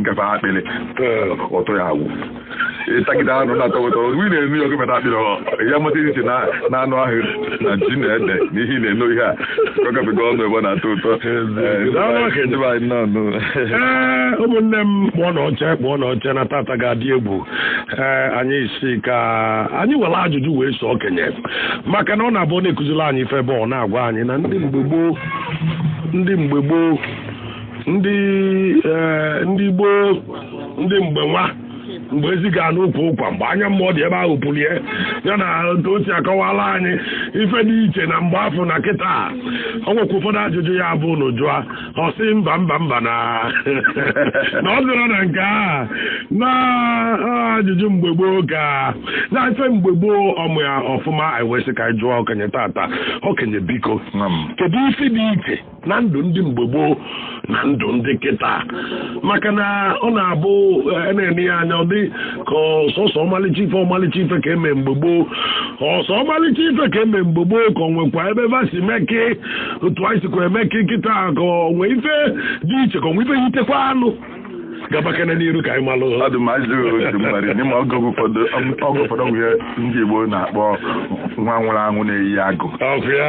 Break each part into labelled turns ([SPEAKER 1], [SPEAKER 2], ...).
[SPEAKER 1] ngafe akpịrị ụtọ ya agwụ ịtagide anụ na-atọ ụtọ ị na-eno ya ogometa akpịrị ya mata iche na anụ ahụ na ji na ede na ihe na-eno ihe a ọ gafego ọnụ ebe ọ na-atọ ụtọ
[SPEAKER 2] ụmụnne m kpụọnụ oche kpụọnụ oche na tata ga-adị egwu ee anyị si ka anyị were ajụjụ wee so okenye maka na ọ na-abụ ọ na-ekuziri anyị ife ebe ọ na-agwa anyị na ndị mgbe gboo ndị mgbe gboo ndị eh, ndị gboo ndị mgbe nwa mgbe ezi ga n'ukwu ụkwa mgbe anya mmụọ dị ebe ahụ pụrụ ya ya na otu o si akọwala anyị ife dị iche na mgbe afụ na kịta a. o nwekwa ụfọdụ ajụjụ ya bụ na jụa ọ sị mba mba mba na na ọ zụrụ na nke a na ah, ajụjụ mgbe gboo ka na ife mgbe gboo ọ ma ya ọfụma anyị wee sị ka anyị jụọ okenye tata okenye biko Nwa m. kedu ife dị iche na ndụ ndị mgbe gboo na ndụ ndị kịta maka na ọ na-abụ eh, na-ene ya anya ọ dị ka ọ sọsọ ọmalịcha ife ọmalịcha ife ka eme mgbe gboo ọ sọ ọmalịcha ife ka eme mgbe gboo ka o nwekwa ebe va si meke otu anyị sikwa emeke kịta ka o nwe ife dị iche ka o nwe ife yitekwanụ gabakene n'iru ka anyị malụ ọ dị ma ajụ otu mmadụ n'ime oge ụfọdụ oge ụfọdụ bụ ihe ndị Igbo na-akpọ nwa nwụrụ anwụ na-eyi agụ ọkụ ya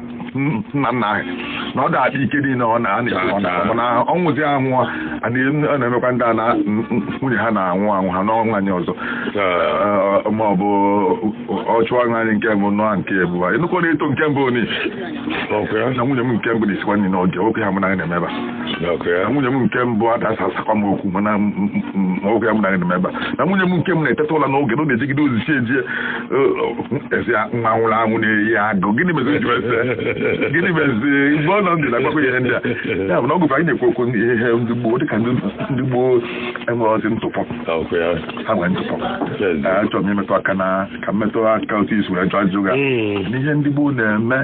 [SPEAKER 2] nna nna anyị na ọ ga-adị ike niile ọ na-anọ na ọ nwụzi anwụ ọ na-emekwa ndị a na nwunye ha na-anwụ anwụ ha anụọ nwaanyị ọzọ ma ọ bụ ọ chụọ nwaanyị nke mbụ nụọ nke ebụa ịnụkọ na-eto nke mbụ ni na nwunye m nke mbụ na-esikwa nri n'oge oke ha mụ na anyị na-emeba na nwunye m nke mbụ ada-asa asakwa m okwu mana nwoke ya mụ na anyị na-emeba na nwunye m nke m na-eteta ụla n'oge na ọ na-ejigide ozi chi ejie a sị nwa nwụrụ anwụ na-eyi agụ gịnị mezi ji ese gịnị mezi mgbe ọ nọ ndụ na-agbakọ ihe ndị a ya bụ na oge ụfọdụ anyị na-ekwu okwu ihe ndị gboo dịka ndị gboo enwerọzi ntụpọ ha nwere ntụpọ achọrọ m imetụ aka na ka m metụ aka otu i si wee jụ ajụ ga n'ihe ndị gboo na-eme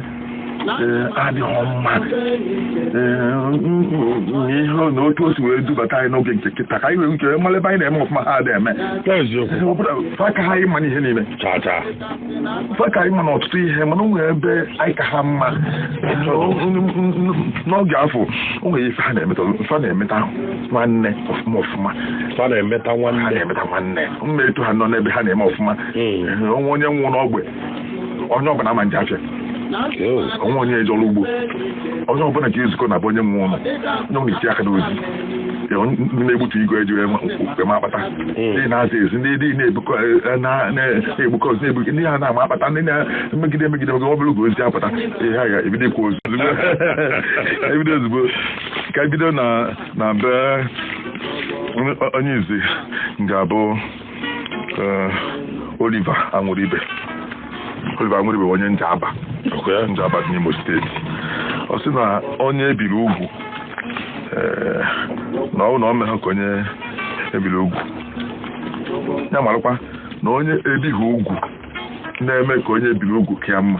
[SPEAKER 2] ee adịghị mma ee ihe na otu o si wee dubata anyị n'oge nke kịta ka anyị wee uche mara ebe anyị na-eme ọfụma ha adịghị eme eziokwu fa ka anyị mma n'ihe niile chata fa ka anyị mma na ọtụtụ ihe mana o nwere ebe anyị ka ha mma n'oge afụ o nwere ife ha na-emeta ife ha na-emeta nwanne ọfụma ọfụma fa na-emeta ha nwanne na-emeta nwanne
[SPEAKER 1] mma etu ha nọ n'ebe ha na-eme ọfụma o nwee onye nwụrụ n'ogbe onye ọbụla ama eje afịa onwe onye eje ọrụ ugbo onye ọbụla ga-ezukọ na be onye nwe ụlọ onye ọbụla na-eti aka n'ozi na-egbutu igu eji ama akpata ndị hmm. na-aza ezi ndị dị na-ebukọ eh, na-egbukọ ozi na-ebuke ndị ha na-ama akpata ndị na-emegide emegide mgbe ọ bụla ugo ozi apụta ihe a ga-ebido ikwu ozi ebido ozugbo ka ebido na be onye izi ga-abụ eh, Oliver Anwụrụibe Oliver Anwụrụibe onye Njaba Njaba dị n'Imo steeti ọ sị na onye ebiri ugwu eh, na ọ bụ na o meghị ka onye ebiri ugwu ya marakwa na onye ebighị ugwu na-eme ka onye ebiri ugwu ka ya mma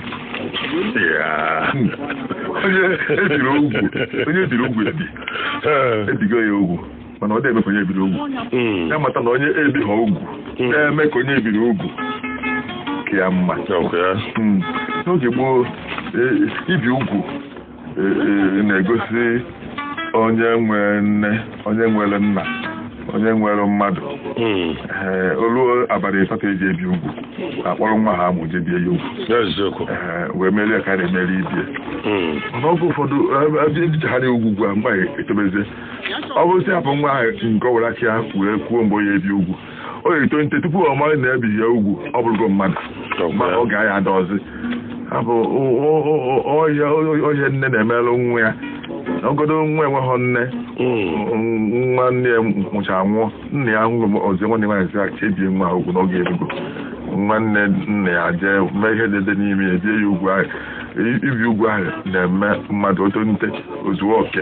[SPEAKER 1] onye ebiri ugwu ebigo ya ugwu mana ọ na-eme ka onye ebiri ugwu Mm. ya mata na onye ebighị ugwu na-eme ka onye ebiri ugwu ka ya mma Okay. Mm. n'oge gboo e- ibi ugwu e- e- na-egosi onye nwere nne onye nwere nna onye nwere mmadụ Mm. Ee, o lu abalị ịsatọ eji ebi ugwu akpọrọ nwa ha amụ je bie ya ugwu Eziokwu. Ee, wee merie ka a na-emeri ibe ya Mm. mana oge ụfọdụ ebichaghị ugwu ugwu a mgbe anyị etobezie ọ bụrụ sị hapụ nwa ahụ nke ọ were aka ya wee kwuo mgbe o ya ebi ugwu o ga-eto nte tupu ọ mara na ebighị ya ugwu ọ bụrụgo mmadụ ma ọ ga ya adịzi ọ bụ ihe nne na-emelụ nwa ya ọ bụgodu nwa enweghị nne nwa nne ya mụchara nwụọ nna ya hụ ọzọ nwanne nwaanyị sị ka ebie nwa a ugwu na oge erugo nwanne nna ya jee mee ihe dị dị n'ime ya ebie ya ugwu ahụ ibi ugwu ahụ na-eme mmadụ oto nte ozuo oke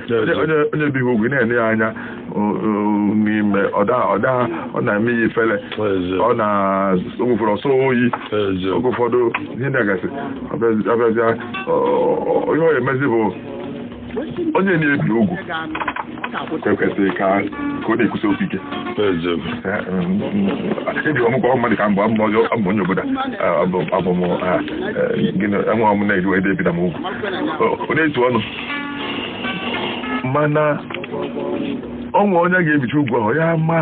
[SPEAKER 1] onye ebighị ugwu na-ele ya anya n'ime ọ na-eme ya ifele ọ na-ogwụfere ọsọ oyi oge ụfọdụ ihe na-agasị abịazịa ihe ọ emezi bụ onye na-ebi ugwu ekwesịrị ka ọ na-ekwusi okwu ike ebi ọmụkwa ọhụrụ mmadụ ka mgbe abụ onye obodo abụ m enwe ọmụ na-eji wee debida m ugwu ọ na-etu ọnụ mana o nwe onye ga-ebicha ugwu ahụ ya ma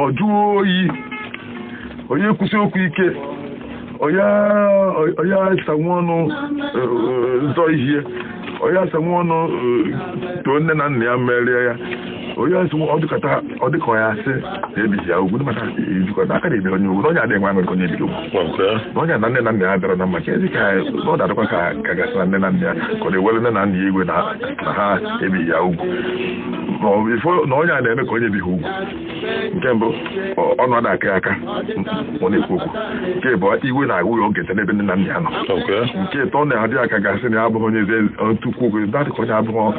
[SPEAKER 1] ọ jụọ oyi ọ ya ekwusi okwu ike ọ ya asanwu ọnụ zọ ihe ọ ya asanwu ọnụ too nne na nna ya merie ya onye ọsị ọ dịkọta ọ dịka ya asị na ebighị ya ugwu ndị maka ejikọta aka na-ebi onye ugwu na onye adịghị nwa nwere onye ebiri ugwu na onye na nne na nna ya bịara na mma ka ezi ka ọ na-adịkwa ka ka a ga-asị na nne na nna ya ka ọ na-ewere nne na nna ya iwe na na ha ebighị ya ugwu ma ọ bụ ị fụ na onye a na-eme ka onye ebighị ugwu nke mbụ ọ- ọnụ ada aka ya aka ọ na-ekwu okwu nke ibụọ iwe na-agwụ ya oge n'ebe nne na nna ya nọ nke ịtọ na-adị ya ka a ga-asị na ya abụghị onye eze tukwu oge dadị ka onye abụghị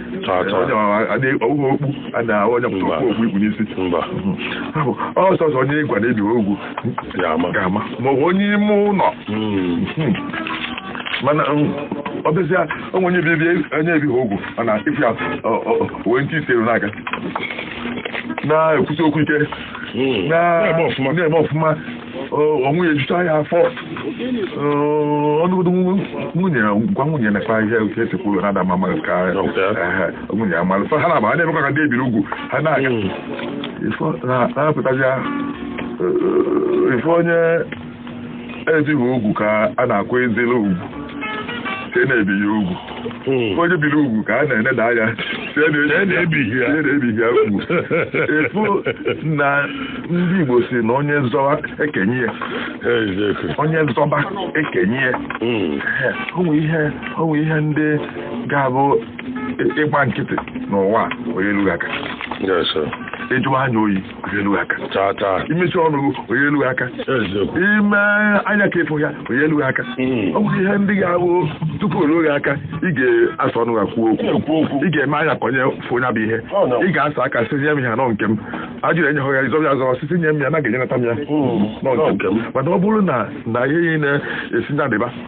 [SPEAKER 1] ọ sọsọ onye ị gwa na ebighị ugwu ga-ama maọbụ onye ime ụlọ hmm. Hmm. mana um, ọ bịazịa o nwee onye bibi onye ebighị ugwu mana ị fụ ya wee ntị iteru n'aka na-ekwusi okwu ike hmm. na-eme ọfụma onwe ya ejucha ya afọ ọ nụgodo nwunye gwa nwunye na-ekpa ihe otu esi kwuru na adama mara ka nwunye ya mara fa ha na-aba ha na-emekwa ka ndị ebiri ugwu ha na-aga na-apụtazi ị fụ onye ebighị ugwu ka a na-akwanyezili ugwu ka e na-ebi ya ugwu hmm. onye biri ugwu ka a na-eneda anya na-ebighị ya ugwu ị fụ na ndị Igbo sị na onye zọba ekenye ya onye zọba ekenye ya hmm. o nwe ihe ndị ga-abụ ị gba nkịtị n'ụwa ọ naghị elu gị aka ị jụwa anya oyi ọ naghị elu gị aka chaa chaa i mechie ọnụ gị ọ naghị elu gị aka eziokwu i mee anya ka ị fụ ya ọ naghị elu gị aka ọ bụrụ ihe ndị ga-awụ tupu o ruo gị aka ị ga-asa ọnụ ya kwuo okwu ekwu okwu ị ga-eme anya ka onye fụ ya bụ ihe Ọ nọ. ị ga-asa aka sị nye m ya na ọ nke m a jụrụ enye ya ị zọ ya azọ sị sị nye m ya na a ga-enyenata m ya na ọ nke m mana ọ bụrụ na na ihe ị na-asị nya dịba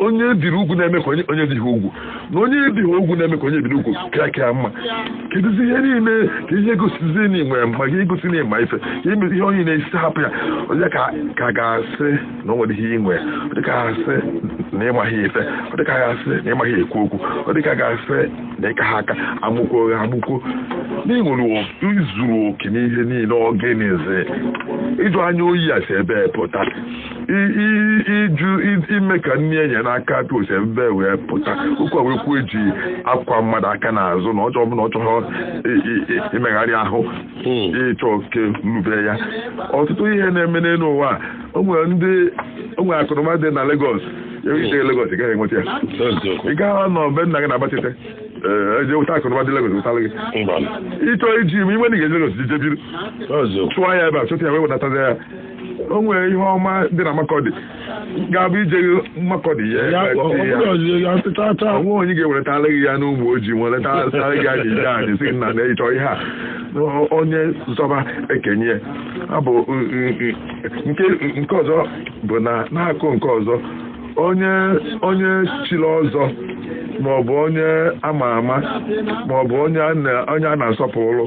[SPEAKER 1] onye ebiri ugwu na-eme ka onye ebighị ugwu na onye ebighị ugwu na-eme ka onye ebiri ugwu ka ka mma kedụzi ihe niile ka i ji egosizi na i nwe mma i ji egosi na ị ma ife ka i mezi ihe onye na-asị hapụ ya ọ dị ka a ga-asị na o nwere ihe i nwe ọ dịka a sị na ị maghị ife ọ dịka a ga-asị na ị maghị ekwu okwu ọ dịka a ga-asị na ị kaghị aka amụkwo oghe amụkwo na ị nwere i zuru oke n'ihe niile ọ gịnịzi ịjụ anya oyi a si ebee pụta i- i- ịjụ i- ime ka nne ya nyere aka aka o si ebee wee pụta ụkwa wee kwuo eji akwa mmadụ aka n'azụ na ọjọọ ọbụla ọ chọrọ i- i- i- imegharị ahụ ịchọ oke nrube ya ọtụtụ ihe na-eme n'elu ụwa a, o nwere ndị o nwere akụnụba dị na Lagos i jeghị Lagos ị gaghị enweta ya ị gaghị nọ be nna gị na-agba nkịtị ee e je wụta akụnụba dị Lagos wụtara gị ị chọ iji ime iwe na ị ga-eje Lagos i je biri chụọ ya ebe a chụta ya wee wedatara ya o nwere ihe ọma dị na Makọdị ga-abụ ije Makọdị ya ya ọ eweta ya. bụrụ ọzọ ya teta taa o nwe onye ga-eweretara gị ya n'ụmụ ojii weretara gị ya n'ije anyị si na na ịchọ ihe a O- onye zọba ekenye ya. Ọ bụ mm, mm, mm, nke nke ọzọ bụ na na-akụ nke ọzọ onye onye chiri ọzọ maọbụ onye ama ama maọbụ onye a na- onye a na-asọpụrụ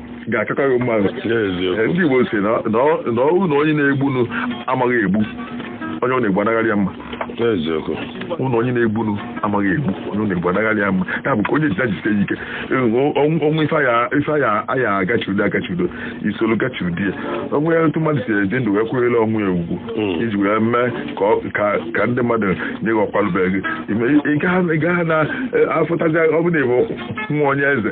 [SPEAKER 1] ga-akakọ gị mma Ee, ndị Igbo si na ọ- na ọ wụ na onye na-egbunu amaghị egbu onye ọ na-egbu anagharị ya mma eziokwu ụlọ onye na-egbunu amaghị egbu onye ọ na-egbu anagharị ya mma ya bụ ka onye jida jide ya ike o nwe ife aya ife aya aya agachiudo agachiudo isolu gachiudi ya o nwere otu mmadụ si eje ndụ wee kwanyere onwe ya ugwu Mm. iji wee mee ka ọ- ka ka ndị mmadụ nye gị ọkwa lubere gị ị gaghị na-afụtazi ọ bụ na ị bụ nwa onye eze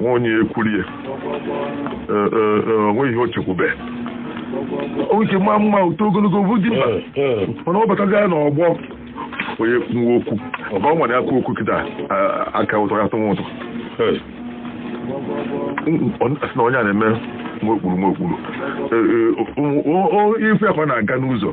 [SPEAKER 1] nwa onye ekwurie Ee, ee, ee, o nweghị ihe o chekwube o nwere ike maa mma oto ogologo bụ dimkpa mana ọ batazi ya n'ọgbọ onye kwuo okwu ọ bụ ọ nwere aka okwu kịta a- aka ụtọ ya tụnwa ụtọ a sị na onye a na-eme nwa okpuru nwa okpuru Ee, ee, o- o- o- ife akwa na-aga n'ụzọ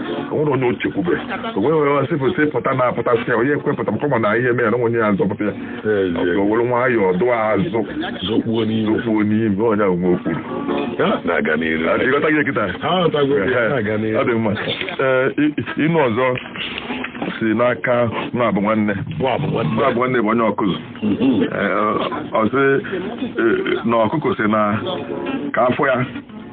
[SPEAKER 1] o nwere onye o chekwube o nwere onye sịpụsị pụta na-apụtasị ya onye ekwepụta maka na ihe mere o nwe onye ya azọpụta ya o were nwayọọ dụọ azụ zokpuo n'ime onye ahụ nwa okpuru na-aga n'iru ị ghọtago kịta ọ dị mma inu ọzọ si n'aka Nwabụnwanne Nwabụnwanne bụ onye Ọkụzụ ọ sị na ọkụkọ sị na ka afọ ya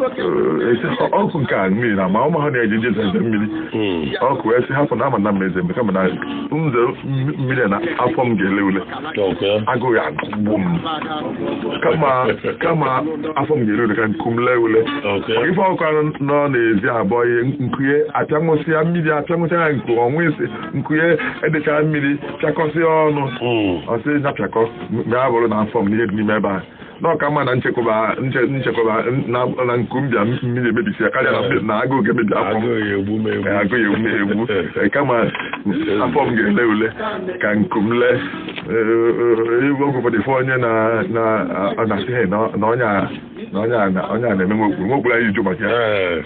[SPEAKER 1] ọkụkọ nke a mmiri na-ama ụmụ ha na-eji nje eze mmiri hmm. ọkụkọ wee sị hapụ na a ma na m ma eze mgbe kama na nze mmiri na afọ m ga-ele ule agụụ agụgbu m kama afọ m ga-ele ule ka nku m lee ule ị fụ ọkụkọ nọ n'ezi abọ ihe nku ye apịanwụsịa mmiri apịanwụsịa ya nku ọnwụ isi nku ye edecha mmiri pịakọsịa ọnụ hmm. ọ sị ya pịakọ mgbe a bụrụ na afọ m n'ihe dị n'ime ebe a na ọ ka mma na nchekwaba nche- nchekwaba na na nku m bịa mmiri emebisi ya karịa na mbe- na agụụ ga-emebi afọ m agụụ ya egbu m egbu Ee, agụụ ya egbu m egbu Ee, kama afọ m ga-ele ule ka nku m lee ebe oge ụfọdụ ife onye na- na- na-asị "Hey, na na onye a na onye a na- onye a na-eme nwa okpuru nwa okpuru anyị jụ maka ya Ee.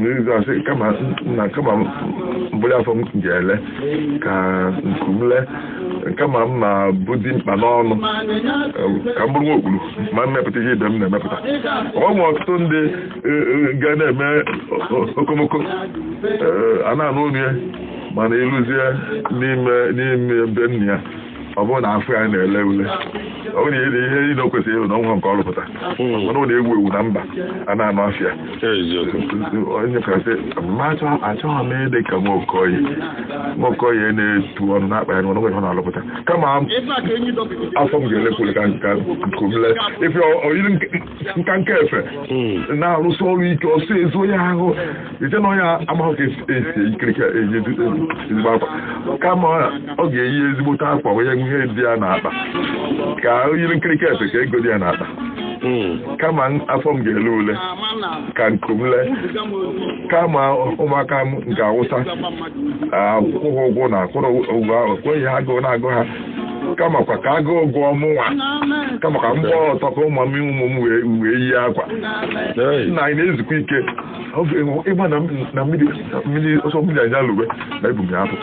[SPEAKER 1] na ị ga-asị kama na kama m bụlụ afọ m ga-ele ka nku m lee kama m ma bụ dimkpa n'ọnụ ka m bụrụ nwa okpuru ma m mepụta ihe ibe m na-emepụta o nwe ọtụtụ ndị ga na-eme okomoko a na-anụ olu ya mana i luzie n'ime n'ime be nna ya ọ bụrụ na afọ ya na-ele ule ọ bụrụ na ihe ihe niile o kwesịrị ịrụ na o nwe nke ọ rụpụta mana ọ na-ewu ewu na mba a na-anụ afa ya eziokwu onye kasị ma achọ- achọghị m ịdị ka Nwaokoye Nwaokoye na-etu ọnụ na-akpa ya n'ọnụ nwere ọ na-alụpụta kama afọ m ga-ele ule ka nku ka nku m lee ife o yiri nke nka nka efe na-arụsị ọrụ ike ọsọ ezu ya ahụ i che na onye amaghị ka esi esi eyi kirika eyi edu- edu- ezigbo akwa kama ọ ga-eyi ezigbote akwa o nwe ihe dị ya n'akpa ka o yiri nkirika efe ka ego dị ya n'akpa kama m- afọ m ga-ele ule ka nku m lee kama ụmụaka m ga-awụsa akwụkwọ ụgwọ na akwụrọ ụgwọ akwụkwọ ha agụụ na-agụ ha kamakwa ka agụụ gụọ mụnwa kamakwa m gbaa ọtọ ka ụmụ m ụmụ m wee wee yie akwa Hey. nna anyị na-ezukwa ike Ọ bụ ịhụ- ịgba na m- na mmiri na mmiri ọsọ mmiri anyị alụwe na ebu m ya apụ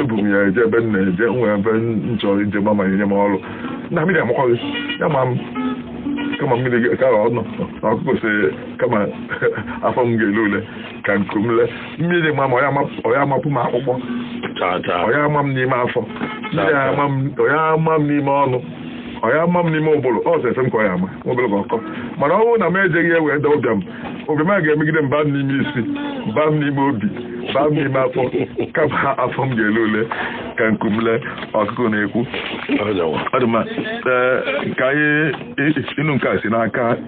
[SPEAKER 1] ebu m ya eje ebe m na-eje nwee ebe m chọrọ ije ma ma nye m ọrụ na mmiri amakwaghị ya ma m kama mmiri ga- ka ọ nọ na ọkụkọ sị kama afọ m ga-ele ule ka nku m lee mmiri ma m ọ ya-amapụ m akpụkpọ ọ ya-ama m n'ime afọ ọ ya-ama m n'ime ọnụ ọ ya-ama m n'ime ụbụrụ ọ sọ efe m ka ọ ya-ama obere ka ọ kọọ mana ọ bụrụ na m ejeghị wee daa ụbịam ụbịam a ga-emegide m ba m n'ime isi ba m n'ime obi ba m n'ime afọ kama afọ m ga-ele ule ka nku m lee ọkụkọ na-ekwu ka anyị nụ nke a si n'aka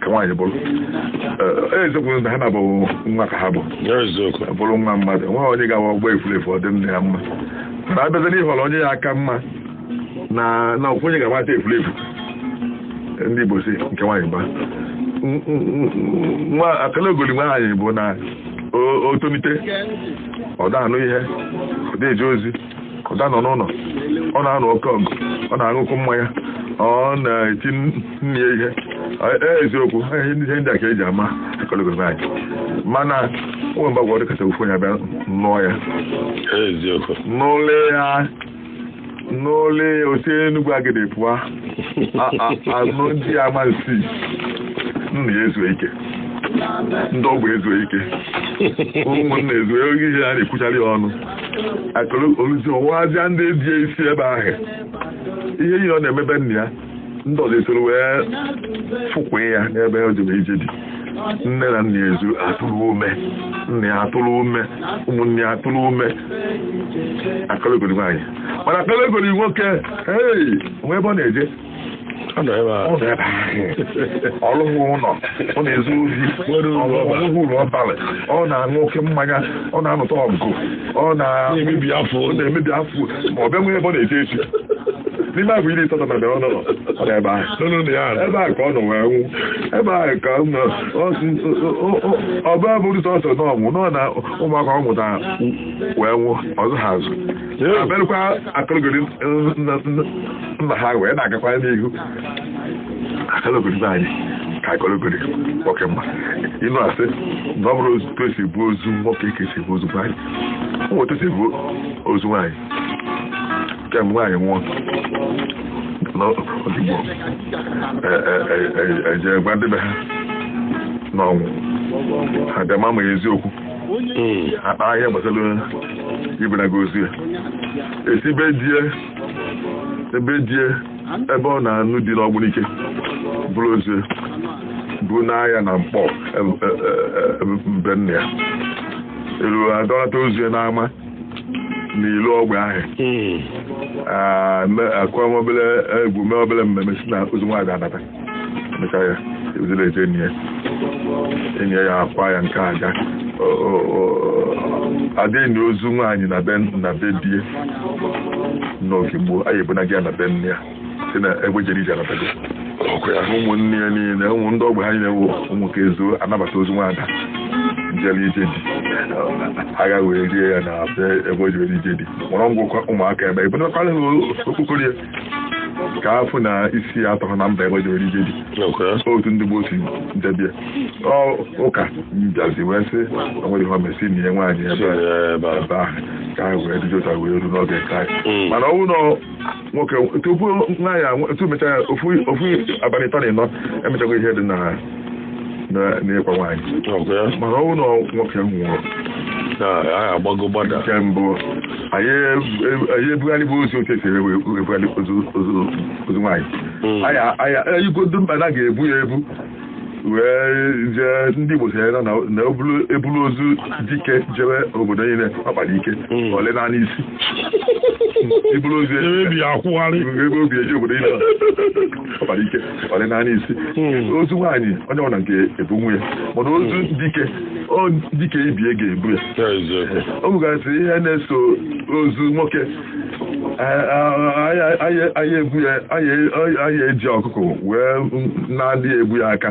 [SPEAKER 1] ka nwaanyị bụrụ eziokwu na ha na-abụ nwa ka ha bụ bụrụ nwa mmadụ nwa onye ga-awụ ọ gbaa efulefu ọ dị nne ya mma mana a bịazie n'ịhọrọ onye ya aka mma na na ofu onye ga-agbata efulefu ndị Igbo sị nke nwaanyị gba nwa akalogoli nwaanyị bụ na o tonite ọ da-anụ ihe ọ da-eje ozi ọ da-anọ n'ụlọ ọ na-anụ oke ọgụ ọ na-aṅụ oke mmanya ọ na-eti nne ya ihe ee eziokwu ihe ndị a ka eji ama akalogoli nwaanyị mana o nwe mgbe ọ ga-adịkata ofu onye abịa nụọ ya n'ụlọ ya n'ụlọ ya o si Enugwu Agidi pụọ anụ ndị Amansi nna ya ezuo ike ndị ogbe ezuo ike ụmụnna ezuo ike a na-ekwuchara ya ọnụ o luzie ọ wazịa ndị di ya isi ebe ahụ ihe ihe ọ na-emebe nna ya ndị ọzọ esoro wee fụkwa ya n'ebe o jebe ije di nne na nna ya ezu atụrụ ume nna ya atụrụ ume ụmụnne ya atụrụ ume akalogoli nwaanyị mana akalogoli nwoke ee o nwe ebe ọ na-eje
[SPEAKER 2] ọ nọ ebe a ọ nọ ebe ahụ
[SPEAKER 1] ọ lụghị ụlọ ọ na-ezu ori Nwere uru ọ lụghị- ọ ọbara. lụghị uru ọ bara ọ na-aṅụ oke mmanya ọ na-anụta ọgụ ọ na na-emebi afọ ọ na-emebi afọ ma ọ bịa nwee ebe ọ na-eje eje n'ime afọ iri ịsatọ na bịara ọ nọ nọ ọ nọ ebe ahụ nụnụ na ya nọ. ebe a ka ọ nọ wee nwụ ebe a ka ọ nọ ọ sị, ọ- ọ- ọ- ọ bụ abụrụ sọsọ na ọnwụ nọ na ụmụaka ọ mụtara wee nwụ ọzọ ha azụ abịarụkwa akalogoli nna ha wee na-agakwa n'ihu akalogoli nwaanyị ka akalogoli nwoke mma ịnụ asị na ọ bụrọ otu esi ebu ozu nwoke ka esi ebu ozu nwaanyị ọ bụ otu esi ebu ozu nwaanyị kemgbe nwaanyị nwụọ n'oge gboo eje gwa ndị be ha na ọ nwụọ ha bịa ma ma eziokwu akpa ihe gbasara ibunaga ozu ya esi be die ebe die ebe ọ na-anụ di n'Ogbunike buru ozu ya bunaa ya na Nkpọ be nna ya elu adọnata ozu ya n'ama n'ilo ogbe ahụ akụọ obere egwu mee obere mmemme sị na ozu nwaada anata mechaa ya ebidoro eje eni ya eni ya akwa ya nke aga adị eni ozu nwaanyị na be na be die n'oge gboo anyị ebunaa ya na be nna ya sị na egbe jere ije anatago ụmụnne ya niile ụmụ ndị ogbe ha niile wụ ụmụ ka ezuo anabata ozu nwaada jere ije di a gaa wee lie ya na ebe o jere ije di mụrụ ngwụkwa ụmụaka ebe ebunakwala ha okpokoro ya ka afụ na isi atọhọ na mba ebe o jere ije di otu ndị gboo si debie ụka bịazi wee sị o nwerọ ihe o me sị na e nie nwaanyị ebe ahụ ka ha wee dịjota wee ru n'oge nke anyị hmm. mana ọnwụ na nwoke tupu nwaanyị tupu mechaa ya ofu abalị ịtọ na ịnọ emechago ihe dị na n'ịkwa nwaanyị mana ọ bụrụ na nwoke nwụrụ agbago gbada nke mbụ anyị ebugharịbụ ozu otu esi ebugharị ozu nwaanyị anyị igodo mba na ga-ebu ya ebu wee jee ndị Igbo sị na na ebulu ozu dike jewe obodo niile ọ kpara ike hmm. ole naanị isi ibulu ozu ebe o bi eje obodo niile ọ kpara ike ole naanị isi hmm. ozu nwaanyị onye ọbụla nwee ike ebunwu ya mana ozu hmm. dike dike ibie ga-ebu ya o nwegasị ihe na-eso ozu nwoke ebu ya anyị eji ọkụkụ wee na-adịghị ebu ya aka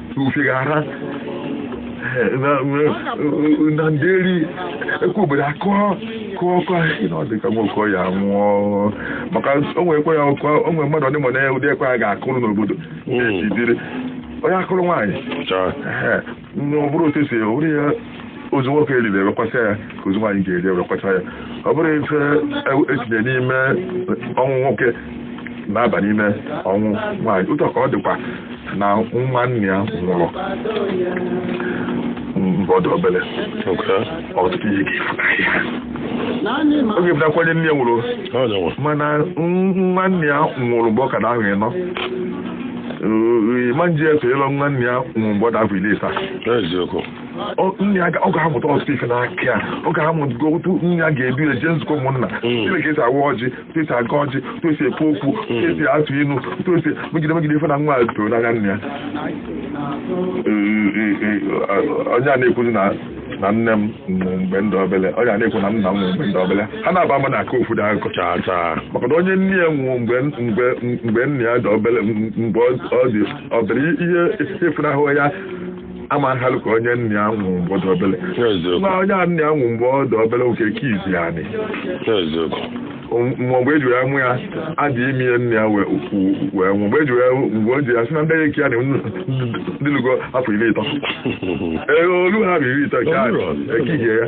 [SPEAKER 1] ufie ga-ada na nderi ekwe obodo akụọ kụọ ọkụ ahụ na ọ dị ka nwoke ya nwụọ maka o nwere ekwe a akụ o nwere mmadụ ọdịmọ na ụdị ekwe a ga-akụrụ n'obodo ejidere onye akụrụ nwaanyị ọ bụrụ otu esi were ya ozu nwoke eriri ewekwasị ya ka ozu nwaanyị ga-eri ewekwasị ya ọ bụrụ ife etinye n'ime ọnwụ nwoke na-aba n'ime ọnwụ nwaanyị otu ka ọ dịkwa na nwa nna ya nwụrụ mgbe ọ dị obere ọtụtụ ihe oge bụtakwanye nna ya nwụrụ mana nwa nna ya nwụrụ mgbe ọ ka na-ahụ ịnọ ma nje efe ịlọ nwa nna ya nwụrụ mgbe ọ dị afọ iri ịsa nna ya ọ ga-amụta ọtụtụ ife n'aka ya ọ ga-amụta otu nna ya ga-esi eje nzukọ ụmụnna mm. ka esi awa ọjị otu esi agọ ọjị otu esi ekwu okwu otu mm. esi atụ inu otu esi megide megide ife na nwa ya toro n'anya nna ya onye a na-ekwuzi na na nne m mgbe m dị obele ọ ga na-ekwu na nna m mgbe m dị obele ha naabọ ama na-akọ ofu ụdị akụkọ chaa chaa maka na onye nna ya nwụọ mgbe nna ya dị obele mgbe ọ dị obere ihe efunahụ ya ama nhalụ ka onye nna ya nwụ mgbe ọ dị obele ma onye a nna ya nwụ mgbe ọ dị obele oke ka izi ya nị mgbe eji wee mụ ya a dị ime ya nna ya wee nwụ mgbe eji wee mgbe o ji ya si na ndị eke ya na dịlugo afọ iri ịtọ ee o lu afọ iri ịtọ nke a ekihie ya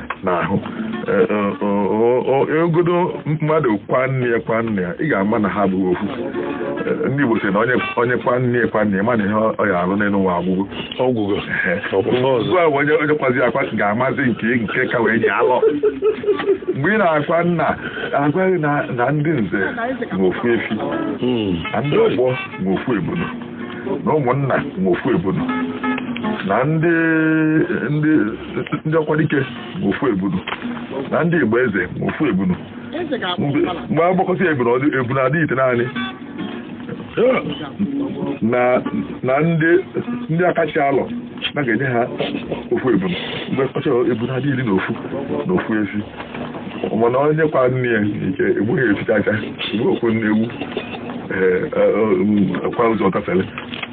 [SPEAKER 1] n'ahụ ogodo mmadụ kwa nne ya kwa nna ya ị ga-ama na ha abụghị ofu ndị Igbo sị na onye kwa nne ya kwa nna ya ma na ihe ọ ya alụ n'elu ụwa agwụgo ọ gwụgo ugbu a onye onye kwazi akwa ga-amazi nke nke ka wee nye alọ mgbe ị na-akwa nna a gwa gị na ndị nze nwe ofu efi na ndị ọgbọ nwe ofu ebunu na ụmụnna nwe ofu ebunu na ndị ndị ndị ọkwa dike nwe ofu ebunu na ndị igba eze nwe ofu ebunu mgbe a gbakọta ebunu ọ dị ebunu adị itenaanị na ndị akachi alọ na a ga-enye ha ofu ebunu a gbakọcha ebunu adị iri na ofu na ofu efi mana onye kwa nne ya nke egbughị efi chaa chaa igbu ofu nne ewu kwa ụzọ gafere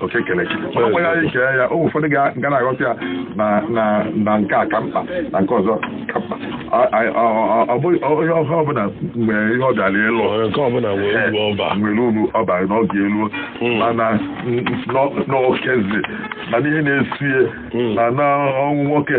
[SPEAKER 1] oke kere chi mana ọ gwaghị anyị kee ya o ụfọdụ ga- ga na-aghọta ya na na na nke a ka mkpa na nke ọzọ ka mkpa Ọ- ọ- ọ- ọ- ọ bụghị onye ọha ọbụla nwe ihe ọ bịara ịlụ Onye nke ọbụla nwere uru ọ ba nwere uru ọ bara n'oge elu Mm. mana n- n- n'okezi mana ihe na-esie Mm. na na ọnwụ nwoke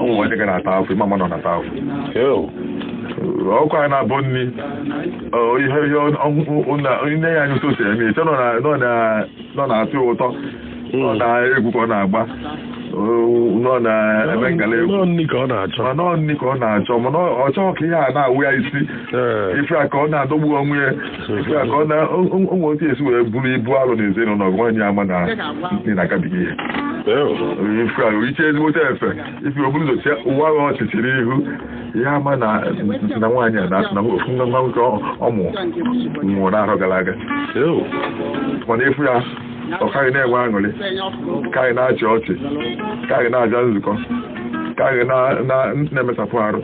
[SPEAKER 1] ụmụ nwaanyị ga na-ata afụfụ ị ma mmadụ na-ata afụfụ ọkụkọ na-abọ nri ihe ihe nne ya anyị sosi eme i chee na ọ na-atọ ụtọ na ọ egwu ka ọ na-agba na ọ na-eme ngala egwu na ọ nri ka ọ na-achọ mana ọ nri ka ọ na-achọ mana ọ chọghị ka ihe a na-awa ya isi ife a ka ọ na-adọgbu onwe ya Nke a ka ọ na- o- o- o nwere otu esi wee buru ibu alụ na ezinụlọ gị nwaanyị ama na ị na-agabiga ihe ife ahụ iche ezigbote efe ife o buru ụzọ chịa ụwa ahụ ọchị chịrị ihu ihe ama na na nwaanyị a na- na ofu nwa nwa nwoke ọ- ọ mụ nwụrụ n'arọ gara aga mana ị fụ ya ọ kaghị na-enwe aṅụrị kaghị na-achị ọchị kaghị na-abịa nzukọ kaghị na- na- na-emesapụ arụ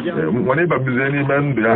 [SPEAKER 1] Eh, mana ị babazie n'ime ndụ ya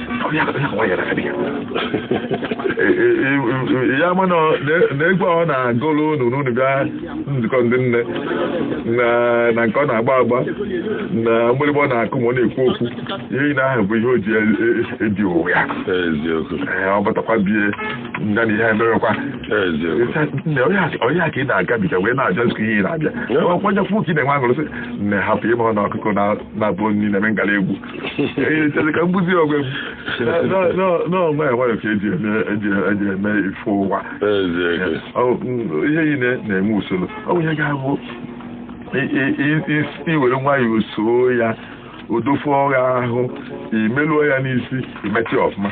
[SPEAKER 1] Ọ ya bụ ya nwa ya na abịa. ya mana na egwu ọ na-agụrụ unu ma unu bịa nzukọ ndị nne na- na nke ọ na-agba agba na mgbịrịgba ọ na-akụ ma ọ na-ekwu okwu ihe niile ahụ bụ ihe o ji e- e- ebi ụwa ya eziokwu Ee, ọ batakwa bie nga na ihe emewekwa eziokwu nne ọ ihe a- ọ ihe a ka ị na-agabiga wee na-abịa nzukọ ihe ị na-abịa ọkwanye kwụ ka ị na-enwe aṅụrị sị nne hapụ ị ma na ọkụkọ na- na-abọ nri na-eme ngala egwu Ee, chere ka m gbuzie ogwe m. Na- na- na- na ọ nwayọ nwayọ ka eji eme eji eji eme ife ụwa. Eziokwu. Ọ- m- ihe niile na-enwe usoro ọ bụ ihe ga-abụ i- i- i- i- i were nwayọọ soo ya o dofe gị ahụ i meluo ya n'isi i meta ya ọfụma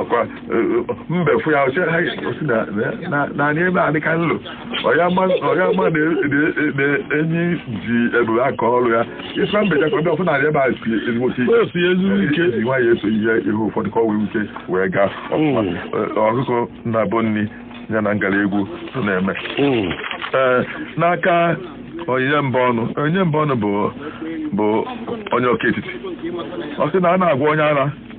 [SPEAKER 1] ọ kwa mbe fụ ya ọ sị ha ọ sị na na na anị ebe a dị ka nlo ọya ma ọya ma na na enyi ji ebube aka ọrụ ya ife mbe ya ka ọ bịa ọ fụ na anị ebe a si ezigbo ike O si ezigbo ike. e ji nwayọ eso ihe ihe ụfọdụ ka ọ nwee ike wee gaa ọfụma Mm. Ọ- ọkụkọ na-abọ nri ya na ngala egwu so na-eme Mm. Ee, n'aka onyinye mba ọnụ onyinye mba ọnụ bụ bụ onye ọka etiti ọ sị na a na-agwa onye ara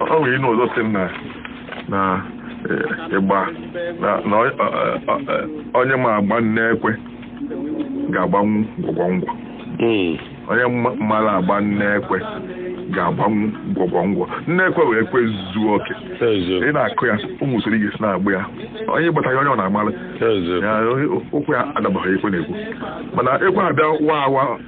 [SPEAKER 1] o nwere inu ọzọ sị m na na eh, ịgba na na ọ- ọ- ọ- ọ- onye ma agba nne ekwe ga-agbanwu gwọgwọ ngwọ Mm. onye ma- mara agba nne ekwe ga-agbanwu gwọgwọ ngwọ nne ekwe wụ ekwe zuo oke Eziokwu. a na-akụ ya o nwee usoro ị ga-esi na-agba ya onye gbataghị onye ọbụna amalụ Eziokwu. na ụkwụ ya adabaghị ihe ekwe na-ekwu mana ekwe abịa wa awa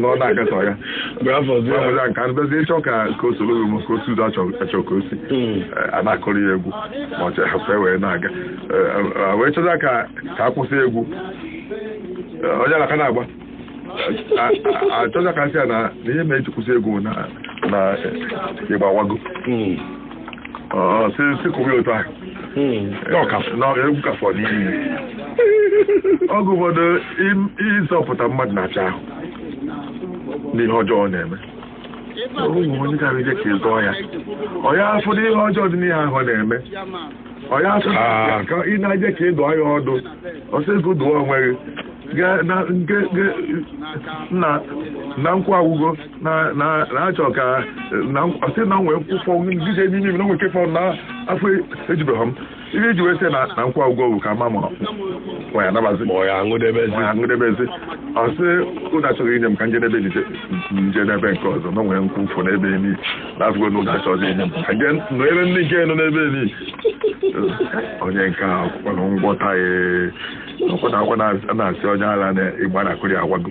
[SPEAKER 1] na ọ na-akatọ ya gwafozi nka ndozi ịchọ ka ka o soro m ka otu ụzọ achọ ka o si a na-akụrụ ya egwu ma ọcha hapụ wee na-aga wee chọta ka ka a kwụsị egwu onye ala ka na-agba a chọta ka e si ya na ihe ma eji kwụsị egwu na ịgba awago si si kụwa otu ahụ egwu ka fọ n'ime oge ụfọdụ ịzọpụta mmadụ na-ara ahụ n'ihe ọjọọ ọ na-eme ụmụ onye gara ije ka ị zọọ ya ọ ya afụ na ihe ọjọọ dị n'ihe ahụ ọ na-eme ọ ya afụ ka ị na-eje ka ị dụọ ya ọdụ ọ sị gị dụọ onwe gị na nkwa agwụgo na na na-achọ ka na ọ sị na nwee nke fọ ngije n'ime ime na nwee nke fọ na afọ ejubeghị m ihe eji wee sị na na nkwa agwụgo bụ ka ma mụrụ nwa ya nabazi ma ọ ya aṅụdebezi nwa ya ṅụdebezi ọ sị ụda achọghị inye m ka njedebe nje nje n'ebe nke ọzọ na nwee nke fọ n'ebe ni na afọ na ụda achọghị inye m ka nje nọ ebe ndị nke nọ n'ebe ni onye nke a akwụkwọ na ngwọta ya ọkwụna akwụna na-asị onye ala na ịgba a na-akụrụ agwụgo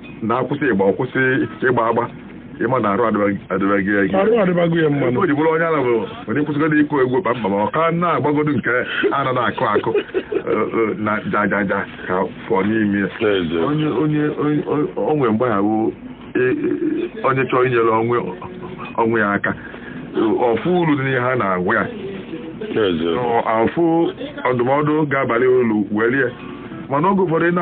[SPEAKER 1] na a kwụsị ịgba ọ kwụsị ịgba agba ị ma na arụ adịbaghị ya gị arụ adịbago ya mana ihe o ji bụrụ onye ala bụ onye kwụsịgodo ịkụ egwu kpamkpam ọ ka na-agbagodo nke a nọ na-akụ akụ eh, eh, na jajaja ka fọ n'ime ya N'ezie. onye onye onye- o nwere mgbe ahụ onye chọọ inyere onwe onwe ya aka ọ fụ uru dị n'ihe ha na-agwa ya N'ezie. ọ fụ ọdụmọdụ ga-abalụ ya ulu welie mana oge ụfọdụ ị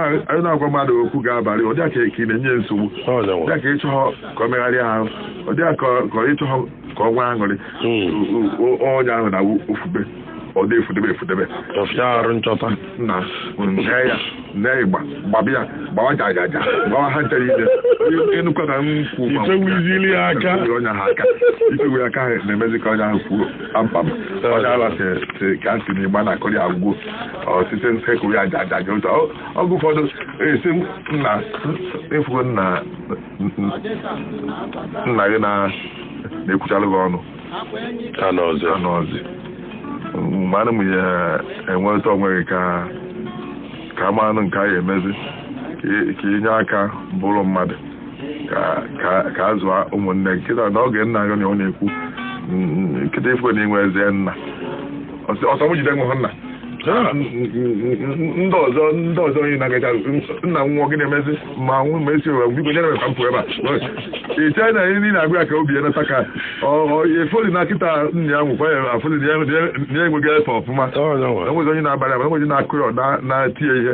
[SPEAKER 1] na-agwa mmadụ okwu ga-abalị ọ dị ya ka ị na-enye nsogbu dị ya ka ị chọghọ ka ọ megharịa ahụ ọ dị ya ka ị chọghọ ka ọ nwee aṅụrị hmm. onye ahụ na-efube ọ dị efudebe efudebe arụ nchọta na nne ya nne ịgba gbaba ya gbawa jajaja gbawa ha ncha niile ịnụkọ na nkwụ ị fewezili ya
[SPEAKER 2] aka onye ahụ aka
[SPEAKER 1] ị fewe aka na-emezi ka onye ahụ kwuo kpamkpam onye ala si ka ntị na ịgba a na-akụrụ agwụgo ọtụtụ nsekwu ya jajaja ụtọ oge ụfọdụ a sị nna efugo nna nna gị na-ekwuchara gị ọnụ anọzị mgbe ahụ ị ya enweta onwe gị ka ka a malụ nke a ya emezi ka ị nye aka bụrụ mmadụ ka a zụọ ụmụnne kịta n'oge nna gị na ọ na-ekwu kịta ị fụ na ị nwezị nna ọsọ m jide nwụhụ nna ndị ọzọ ndị ọzọ onye na-agacha nna nwụọ gị na-emezi ma nwụ ma a sị ụwa biko nyere m aka m pụọ ebe a ị chee na ihe niile a gwa ya ka obi ya nata ka ọ fụlụ na kịta nna ya nwụkwa ya afụlị na ya enwego efe ọfụma enwezị onye na-abara ya enwezị na-akụ ya na-eti ya ihe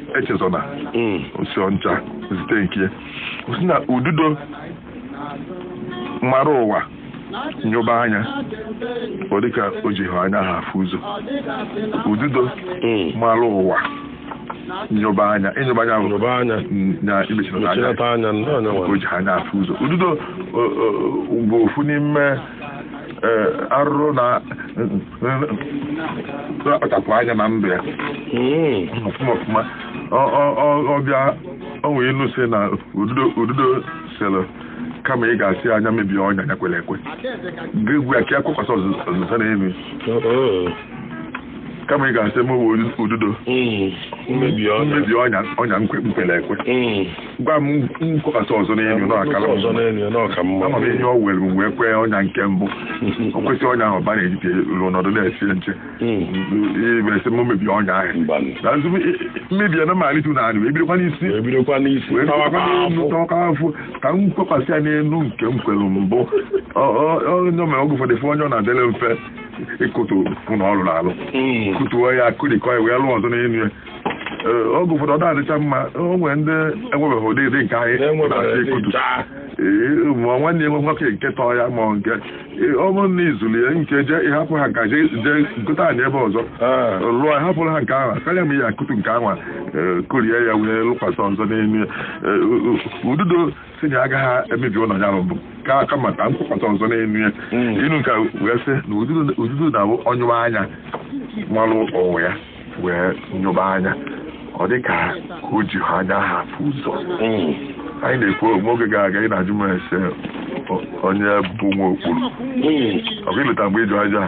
[SPEAKER 1] echezọna o si Ọnịcha zite nke ọ sị na ududo mara ụwa nyoba anya ọ dịka o jihọ anya afụ ụzọ ududo mara ụwa nyoba anya ịnyoba anya Nyoba anya. na imechirata Mechirata anya, ndị anya o nwere. jihọ anya afụ ụzọ ududo o- o- bụ ofu n'ime arụrụ na-akpachapụ anya na ndụ ya ọfụma ọfụma ọ bịa nwee ilu sị na ududo sịrị kama ị ga-asị nya mebie ọnya ya kwere ekwe gwa ya ka ya kwekwasị ọzọ n'elu kama ị ga-asị mụwa ududo mm. m mebie ọnya ọnya m kwere ekwe mm. gwa m m kwekwasị ọzọ n'elu n'ọkara ama m ihe ọ were m wee kwee ọnya nke mbụ o kwesịrị ọnya ahụ ba na-ejite ruo n'ọdụ na-esie nche ị bịa sị mm. m mebie ọnya ahụ na nzu mmebi ya na malite na anụ ebidokwa n'isi ebidokwa n'isi wee tọwaka afụ ka m kwekwasị ya n'elu nke m kwere mbụ ọ nya mere oge ụfọdụ fụ onye ọ na-adịrị mfe ịkụtu ụlọ ọ rụna alụ hmm. kụtuo ya kụrikọ ya wee lụọ ọzọ n'elu ya oge ụfọdụ ọ na-adịcha mma o nwere ndị enwebeghị ụdị dị nke anyị na-achọ ịkụtu ma nwanne enwe nwoke nke tọọ ya ma nke ọ bụrụ na izuru ya nke je ịhapụ ha nka jee gote anị ebe ọzọ ah. lụọ hapụrụ ha nke ahụ karịa ma ị ya-akụtu nke ahụ e, kụrie ya wee lụkwasị ọzọ n'elu e, ududo sị na agaghị emebi ụlọ ya mbụ ka kama ka m kwekọta ọzọ n'enu ya inu nke wee sị na ududo na-abụ ọ nyụba anya malụ onwe ya wee nyụba anya ọ dị ka o jighị anya ahụ afụ ụzọ anyị na-ekwu o nwere oge gara aga ị na-ajụ m asị onye bụ nwa okpuru ọ bụ ileta mgbe ịjụ aja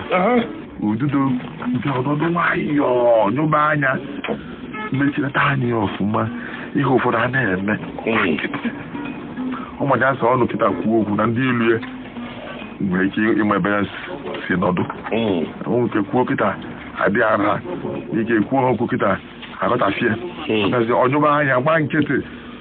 [SPEAKER 1] ududo nke ọ nọdụ nwayọọ nyụba anya mechilata anya ya ọfụma ihe ụfọdụ a na-eme ọ maja asa ọnụ kịta kwuo okwu na ndị ilo ya nwere ike ịma ebe ya si nọdụ o nwere ike kwuo kịta adị ara ike kwuo ha okwu kịta aghọtafie ọ nyụba anya gbaa nkịtị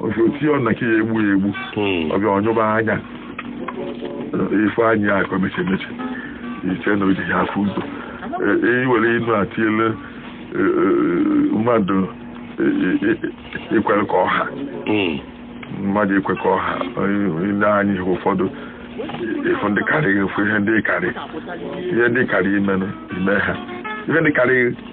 [SPEAKER 1] osi ọ na ka ya egbu ya egbu hmm. ọ bịa ọ nyụba anya ị fụ anya ka ọ mechi mechi i chee na o ji ya afụ ụzọ iwere e, e, inu atiele e, mmadụ ikwere ka ọ ha hmm. mmadụ ikwe ka ọ ha i lee anya ihe ụfọdụ ị fụ ndị karịrị gị ị fụ ihe ndị karị ihe ndị karị imenụ ime ha ihe ndị karịrị gị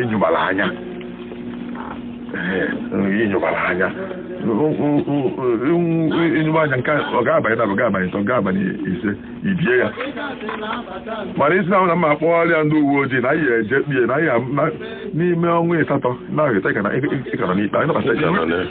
[SPEAKER 1] ịnyụbara anya ịnyụbara anya ịnyụba anya nke ọ ga-abanye na ọ ga-abanye ntọ ga-abanye ise ibie ya mana ị sị na m ga-akpọrọ ya ndị uwe ojii na anyị eje ikpe na anyị n'ime ọnwa ịsatọ na-ahụta ịkara n'ikpe anyị nabata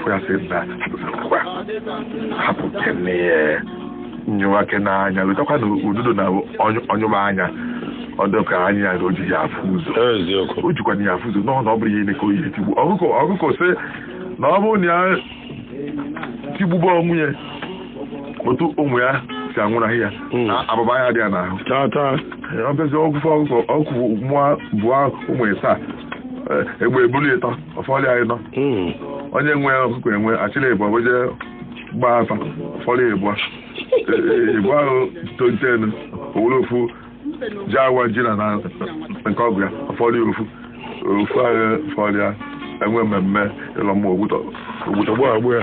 [SPEAKER 1] fụgasị na hapụtakwa hapụ kene ya nyewa kene anya letakwa na ududo na ọ nyụba anya ọ dọka anya ya o ji ya afụ ụzọ eziokwu o jikwana ya afụ ụzọ n'ọhụ na ọ bụrụ ihe ime ka o ihe tigbu ọkụkọ ọkụkọ sị na ọ bụrụ na ya tigbube onwe ya otu ụmụ ya si anwụnahị ya Mm. na abụba ya dị ya n'ahụ tata ọ bịazi ọgwụfe ọgwụfe ọgwụ mụọ bụọ ụmụ ịsaa egbe ebulu ịtọ ọ fọdụ ịnọ hmm. onye nwe ọkụkọ enwe achịla ịbụa wee je gbaa afa ọ fọdụ ịbụa ịbụa ahụ tontenu o were ofu ji awa ji na nke ọgụ ya ọ fọdụ ofu ofu ahụ fọdụ ya enwe mmemme ịlọ mmụọ o gbutọgbọ agbụ ya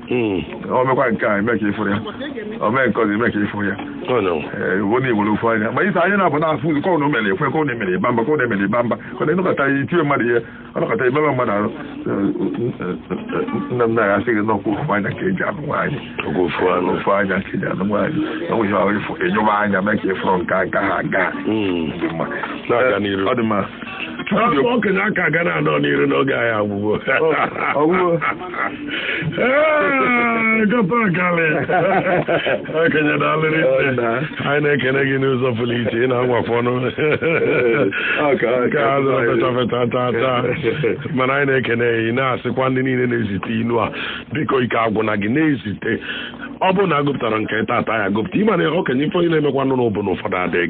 [SPEAKER 1] Hmm. o mekwa nke a i me ka ị fụrọ ya o mee nke ọzọ i me ka ị fụrọ ya iwu na i were ofu anya ma i si anya naabọ na-afụ ụzọ kọọ na o mere ekwe kọọ na emere ịba mba kọọ na emere ịba mba kọọ na ị nọkata ya i tie mmadụ ihe ọ nọkata i mebe mmadụ arụ nna m na-agha asị gị na ọ kwa ofu anya ka eji anụ nwaanyị ofu anya ka eji anụ nwaanyị na nwere ahụ ịfụ enyụba anya mee ka ị fụrọ nke aka ha aga hmm. ọ dị mma okenye
[SPEAKER 2] aka ga na-anọ n'iru n'oge anyị agwụgo Ee, gọta akalị. Okenye daalụ rinne. na. Anyị na-ekene gị n'ụzọ pụrụ iche ị na-anwakwa ọnụ. Ọ ka- ọ Nke ka- a zụrụ feta feta taa taa. Mana anyị na-ekene ya, ị na-asịkwa ndị niile na-ezite inu a biko ike agwụna gị na-ezite ọ bụrụ na agụpụtarọ nke ị tata ya agụpụta ị ma na okenye ife onye na-emekwanụ na ọ bụ na ụfọdụ adịghị